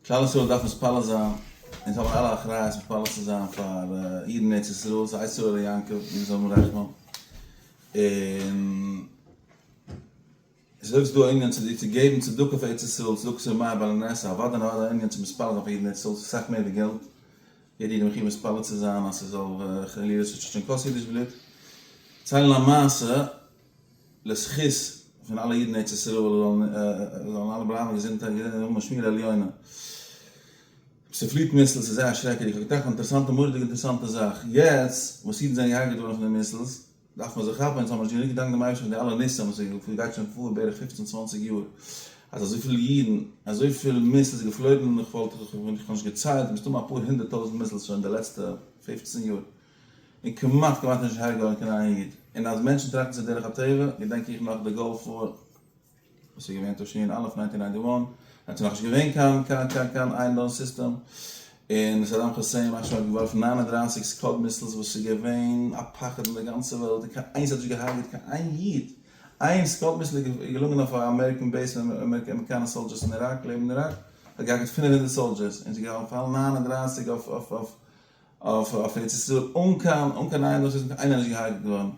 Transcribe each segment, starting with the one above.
כלל ישראל דארף מתפלל זיין, אונז האבן אלע אחריות מתפלל צו זיין פאר אידן אין ארץ ישראל, סא איסור עלי יעקב, מיר זאלן האבן רחמים, און ס'איז אויך דא א ענין צו דיר צו געבן צדקה אויף ארץ ישראל, צדקת יומיים בלע נ, סא אוודאי און אוודאי א ענין צו מתפלל זיין פאר אידן אין ארץ ישראל, ס'איז אסאך מער ווי געלט, יעדע איד איז מחיוב מתפלל צו זיין אז ס'זאל חלילה נישט צוטשען קיין קאס אידיש בלוט, צייל א מעשה. לזכות פון אלע אידן ארץ ישראל זאלן אלע בלייבן געזונט און האבן א שמירה עליונה. ס'פליט מיסלס איז זייער שרעקעדיג א געטאכטע אינטערעסאנטע מורא'דיג אינטערעסאנטע זאך. יעצט וואס אידן זענען געהארגעט געווארן פון די מיסלס דארף מען זיך כאפן אונז האבן נישט גענוג געדאנקט דעם אייבערשטן פאר די אלע ניסים וואס איז גייט שוין פאר בערך פופצן צוואנציג יאר אז אזויפיל אידן אזויפיל מיסלס איז געפלויגן און איך וואלט איך וואלט איך נישט געציילט מסתמא אפאר הונדערט טויזנט מיסלס שוין די לעצטע פופצן יאר. און כמעט כמעט נישט הרג'ענען קיין איין איד, און אז מענטשן טראכטן זיך דרך הטבע, געדענק איך נאך די גולף וואר, וואס איז געווען תשנ א, נײַנצן הונדערט נײַנצן און נײַנציק, האט עס נאך נישט געווען קיין קיין קיין קיין איירן דאון סיסטעם, און סאדאם כוסעין יימח שמו האט געווארפן נײַן און דרײַסיק סקאד מיסלס וואס איז געווען א פחד אין די גאנצע וועלט, און קיין איינס האט נישט געהארגעט קיין איין איד, איין סקאד מיסל איז געלונגען אויף א אמעריקען בעיס פון אמעריקאנע סאלדשערס אין איראק, לעבן איראק, האט געהארגעט פֿינף הונדערט סאלדשערס, און ס'איז געפאלן נײַן און דרײַסיק אויף אויף אויף. אויף אויף ארץ ישראל אן קיין אן קיין איינוואס איז איינער נישט געהארגעט געווארן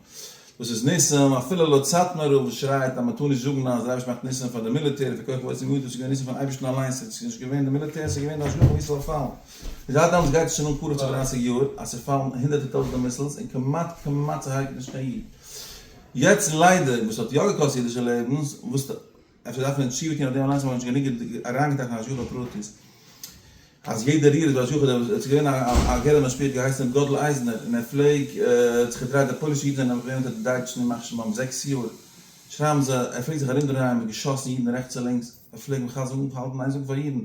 דאס איז ניסים אפילו לויט סאטמאר רב וואס שרייט אז מען טאר נישט זאגן אז דער אייבערשטער מאכט ניסים פאר די מיליטער און פאר כח ועוצם ידו עס איז געווען ניסים פון אייבערשטן אליינס עס איז נישט געווען די מיליטער עס איז געווען די השגחה ווי עס זאל פאלן און זייט דעמאלטס גייט עס שוין אן קרוב צו דרײַסיק יאר אז ס'פאלן הונדערטער טויזנטער מיסילס און כמעט כמעט ס'הרג'ט נישט קיין איד יעצט ליידער וואס האט יא געקאסט אידישע לעבנס וואס אפשר דארף מען תשובה טון אויף דעם אליינס האט מען נישט גענוג אריינגעטראכט אין השגחה פרטית אז יעדע ריר איז בהשגחה דער וואס עס איז געווען א געלע משפיע האט געהייסן ר' גאדל אייזנער און ער פלעג זיך געדרייט די פוילישע אידן זענען נעבעך געווען אונטער די דייטשן ימח שמם זעקס יאר שרייבן זיי ער פלעגט זיך ארום דרייען מיט געשאסן אידן רעכטס און לינקס ער פלעג מחזק אנהאלטן איין זאגן פאר אידן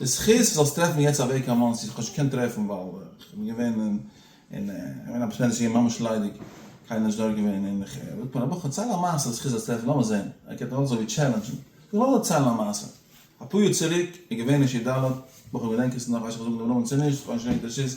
זכות זאלסט טרעפן יעצט א וועג קיין מאנסי, איך האב נישט געקענט טרעפן ווייל איך בין געווען אין אין געווען א באשערטע שעה ממש ליידיג קיינער איז נישט דארט געווען און איך זאגט מיר א בחור דערצייל א מעשה זכות זאלסט טרעפן לאמיר זען ער גייט אלס אזוי טשעלענדזשן איך וועל דערציילן א מעשה אפאר יאר צוריק איז געווען אין ש ד בחור געדענק עס נאך ווייס נישט אויב איך זאג דעם נאמען צו נישט איך האב נישט געדענקט ווער עס איז.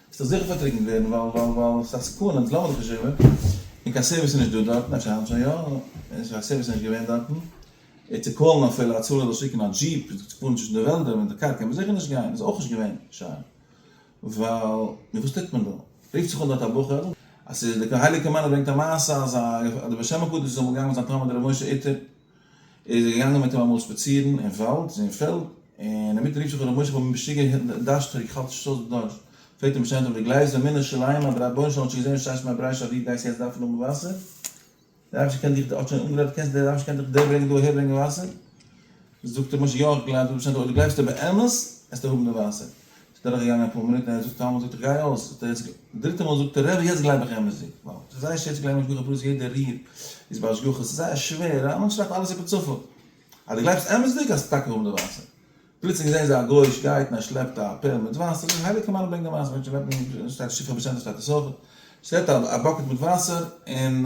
ס'וועט דאך זיכער פארטריקנט ווערן ווייל ווייל ווייל ס'איז א סכנה אונז לאמיר דאך נישט איבער און קיין סערוויס איז נישט דא דארטן אפשר היינט שוין יא און קיין סערוויס איז נישט געווען דארטן און צו קאלן אפילו הצלה זאל שיקן א דזשיפ און זיך צו פארן צווישן די וועלדער מיט די קאר קען מען זיכער נישט גיין איז אויך נישט געווען שיין ווייל נו וואס טוט מען דא רופט זיך אן דארט א בחור אז ס'איז די הייליגע מנהל ברענגט א מעשה אז א די בעל שם הקדוש איז אמאל געגאנגען מיט זיין תלמיד ר' משה איטער ער איז געגאנגען מיט אים אמאל שפאצירן אין וואלד, אין פעלד, און אינמיטן רופט זיך אן ר' משה כ'בין משוגע, דארשט טריק, כ'האלט נישט אויס די דארשט, פרעגט אים משנה תורה, גלייבסט באמונה שלימה אז דער רבונו של עולם האט שוין געזען וואס שטייסט מיט א ברייש אז דו גייסט יעצט דארפן האבן וואסער? דער רבש ע קען דיך, האט שוין אנגערעדט, קענסט דער רבש ע קען דיך דער ברענגען דא אהער ברענגען וואסער? זאגט ר' משה יא איך גלייב, זאגט משנה תורה אויב דו גלייבסט באמת, עסטו האבן די וואסער, דורך געגאנגען אפאר מינוט און ער זאגט קיינמאל זאגט איך גיי אויס האט ער יעצט דריטע מאל זאגט ער ר' יעצט גלייב איך אמת'דיג ווייל ס'איז זייער שווער צו גלייבן השגחה פרטית יעדע ריר איז בהשגחה ס'איז זייער שווער א מענטש דארף אלעס איבער צפון אז די גלייבסט אמת'דיג גייסטו טאקע האבן די וואסער פלוצלינג זעהן זיי א גוי'איש גייט און ער שלעפט א פעל מיט וואסער די הייליגע מרן ברענגט די מעשה מענטשן לעבן שטייט שכחה בשעתו שטייט עס אויך שלעפט א באקעט מיט וואסער און.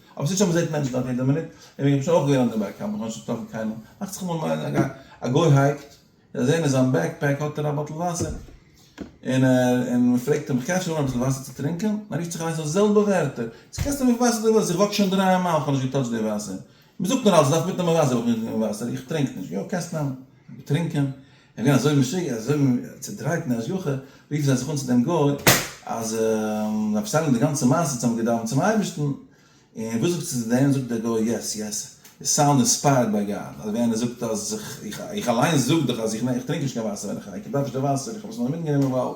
אבער ס'איז שוין מ'זעהט מענטשן דארט יעדע מינוט, און איך בין שוין אויך געווען אן דער בעק קאמפ, איך האב נישט געטראפן קיינעם, מאכט זיך אמאל א גיי, א גוי הייקט, און זעהן אין זיין בעק פעק האט ער א באטל וואסער, און ער, און מ'פרעגט אים איך קען שוין האבן אביסל וואסער צו טרינקען? און ער רופט זיך אליינס אויס די זעלבע ווערטער, יעצט קענסטו האבן וויפיל וואסער דו ווילסט, איך וואק שוין דרײַ מייל, כ'האב נישט געטאטשט די וואסער, מ'זאגט נאר אלץ מ'דארף מיטנעמען וואסער, איך וואק נישט מיט וואסער, איך טרינק נישט, יא קענסט נעמען, געטרינקען, זיי גייען אזוי משוגע, אזוי צודרייט אין די השגחה, רופן זיי זיך אן צו דעם גוי, אז זיי פארציילן די גאנצע מעשה, זיי האבן געדאווענט צום אייבערשטן, און וואס זאגסטו צו דעם? זאגט דער גוי, יעס, יעס, יו סאונד אינספייערד ביי גאד, אזויווי איינער זאגט אז איך, איך אליינס זאג דאך אז איך טרינק נישט קיין וואסער ווען איך הייקער, איך דארף נישט די וואסער, איך האב עס נאר מיטגענומען ווייל.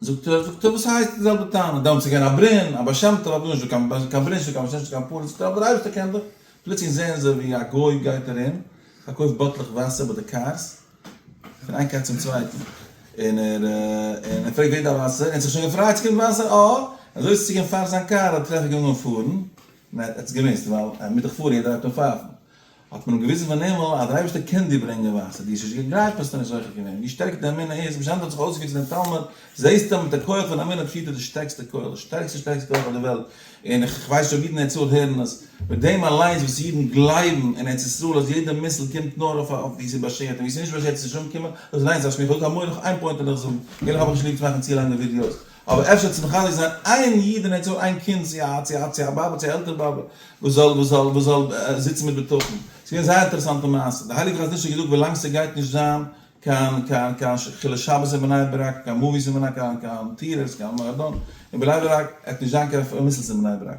זאגט ער, זאגט ער, וואס הייסט די זעלבע טענה, דעמאלטס איז געווען א ברען, א בעל שם טוב האט נישט דא קיין קיין ברען, נישט דא קיין בעל שם, נישט דא קיין פארן, זאגט ער, אבער דער אייבערשטער קען דאך, פלוצלינג זעען זיי ווי א גוי גייט ארום, פארקויפט באטלעך וואסער ביי די קארס, פון איין קאר צום צווייטן, און ער און ער פרעגט ווער דארף וואסער, און ער האט זיך שוין געפרייט ס'קומט וואסער, אה, אזוי איז צו גיין פארן זיין קאר, האט ער טרעפליך געוואנדן אן פארן, און ער האט עס געמוזט, ווייל ער מוז דאך פארן, יעדער הייבט אן פייפן, האט מען אים געוויזן פון הימל אז דער אייבערשטער קען דיר ברענגען וואסער, דו האסט נישט געגלייבט האסטו נישט זוכה געווען, ווי שטערקער די אמונה איז, ווי שענער האט זיך אויסגעוויזן דעם תלמיד, זעסטו אז מיט די כח פון אמונה פירט ער די שטערקסטע כח, די שטערקסטע שטערקסטע כח אויף דער וועלט, און איך ווייס נישט אויב אידן אין ארץ ישראל הערן עס, מיט דעם אליינס וואס אידן גלייבן אין ארץ ישראל אז יעדע מיסל קומט נאר אויף אויף ווי עס איז באשערט און ווי עס איז נישט באשערט איז נישט אנגעקומען, דאס אליינס דארף מיך אויך אן מורא נאך איין פוינט און איך זאג, איך האב נישט ליב צו מאכן צו לאנגע ווידיאוס, אבער אפשר צו מחזק זיין איין איד און ער צו האבן איין קינד צו א צו א צו א באבע צו א עלטערע באבע וואס זאל וואס זאל וואס זאל זיצן מיט בטחון. ס'איז געווען זייער אינטערעסאנטע מעשה. די הייליגע חזון איש האט געזאגט ווילאנג ס'גייט נישט זיין קיין קיין קיין חילול שבת אין בני ברק, קיין מאוויס אין בני קיין קיין טיעטערס קיין מועדון אין בני ברק, עט נישט זיין קיין פארמעסטס אין בני ברק.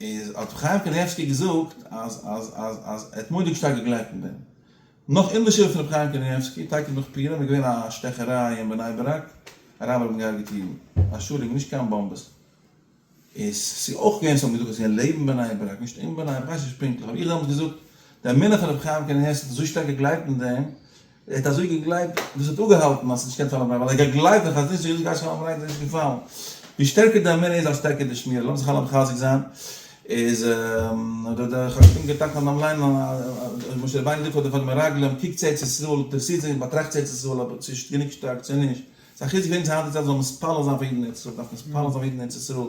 איז האט ר' חיים קנייבסקי געזאגט אז אז אז אז ער האט מורא'דיג שטארק געגלייבט אין דעם. נאך אין די שבעה פון ר' חיים קנייבסקי, טאקע נאך פורים, איז געווען א שטעכעריי אין בני ברק, אראבער האבן געהארגעט אידן, א שלג, נישט קיין באמבעס. איז ס'איז אויך געווען, ס'האבן געזאגט אז ס'געווען לעבן בני ברק, נישט אין בני ברק, כ'ווייס נישט פונקטליך, האב איך דעמאלטס געזאגט, די אמונה פון ר' חיים קנייבסקי האט אזוי שטארק געגלייבט אין דעם, ער האט אזוי געגלייבט, דאס האט אפגעהאלטן אז ס'איז נישט קיין שלום בית, ווייל ער האט געגלייבט אז חזניש זאגט אז גייט שלום בית איז נישט געפאלן. ווי שטערקער די אמונה איז אז שטערקער די שמירה, לאמיר זיך אלע מחזק זיין, איז האט דער חת ם געטאנצט אן דעם ליינען אז משה רבינו זאגט פאר די פאר די מרגלים, קוקטס ארץ ישראל, אינטערעסירט זיך, באטראכטס ארץ ישראל, אויב צו איז גענוג שטארק צו נישט. ס'איז א חיזוק וועגן צו היינט צו צייט זאל מען עס מתפלל זיין פאר אידן אין ארץ ישראל, דארף מען עס מתפלל זיין פאר אידן אין ארץ ישראל.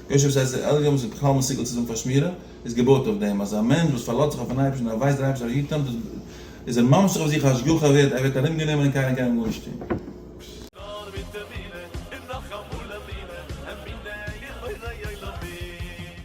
יושב זיי זיי עליון וואס איז בכלל מסוגל צו זאגן פארשמירער, איז געבויט אויף דעם אז א מענטש וואס פארלאזט זיך אויפן אייבערשטן און ער ווייסט דער אייבערשטער היט אים, איז ער ממשיך אויף זיך השגחה ער ווערט ער ווערט ארום גענומען און קיינער קען אים גארנישט טון. נאר מיט אמונה און נאך אמאל אמונה, אמונה אין בורא עולמים.